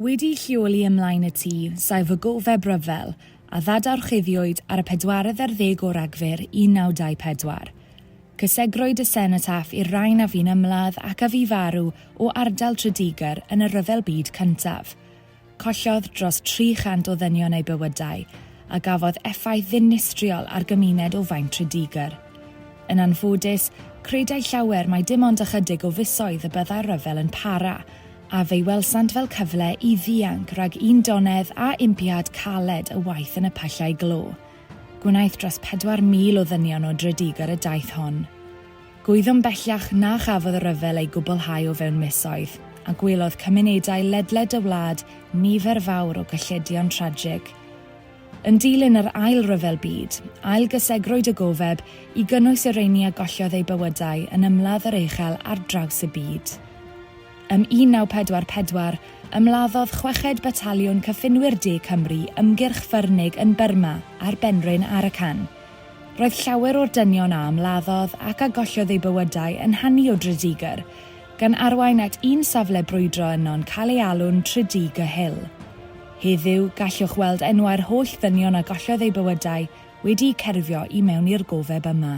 Wedi'i lleoli ymlaen y tŷ, saif fy gofeb ryfel, a ddadorchuddiwyd ar y pedwaredd ar ddeg o Ragfyr 1924. Cysegrwyd y senotaf i'r rain a fu'n ymladd ac a fu farw o ardal Tredegar yn y Rhyfel Byd Cyntaf. Collodd dros 300 o ddynion eu bywydau, a gafodd effaith ddinistriol ar gymuned o faint Tredegar. Yn anffodus, credai llawer mai dim ond ychydig o fisoedd y byddai'r rhyfel yn para, a fe'i welsant fel cyfle i ddianc rhag un donedd a impiad caled y waith yn y pyllau glo. Gwnaeth dros 4,000 o ddynion o Drydygar y daith hon. Gwyddom bellach na chafodd y rhyfel ei gwblhau o fewn misoedd, a gwelodd cymunedau ledled y wlad nifer fawr o gylledion tragig. Yn dilyn yr Ail Ryfel Byd, ailgysegrwyd y gofeb i gynnwys y rheini a gollodd eu bywydau yn ymladd yr uchel ar draws y byd. Ym 1944, ymladdodd chweched Bataliwn Cyffinwyr De Cymru ymgyrch ffyrnig yn Burma ar benrhyn Arakan. Roedd llawer o'r dynion a ymladdodd ac a gollodd eu bywydau yn hanu o Dridigr, gan arwain at un safle brwydro yno'n cael ei alw'n Tridigr Hill. Heddiw, gallwch weld enwau'r holl ddynion a gollodd eu bywydau wedi'u cerfio i mewn i'r gofeb yma.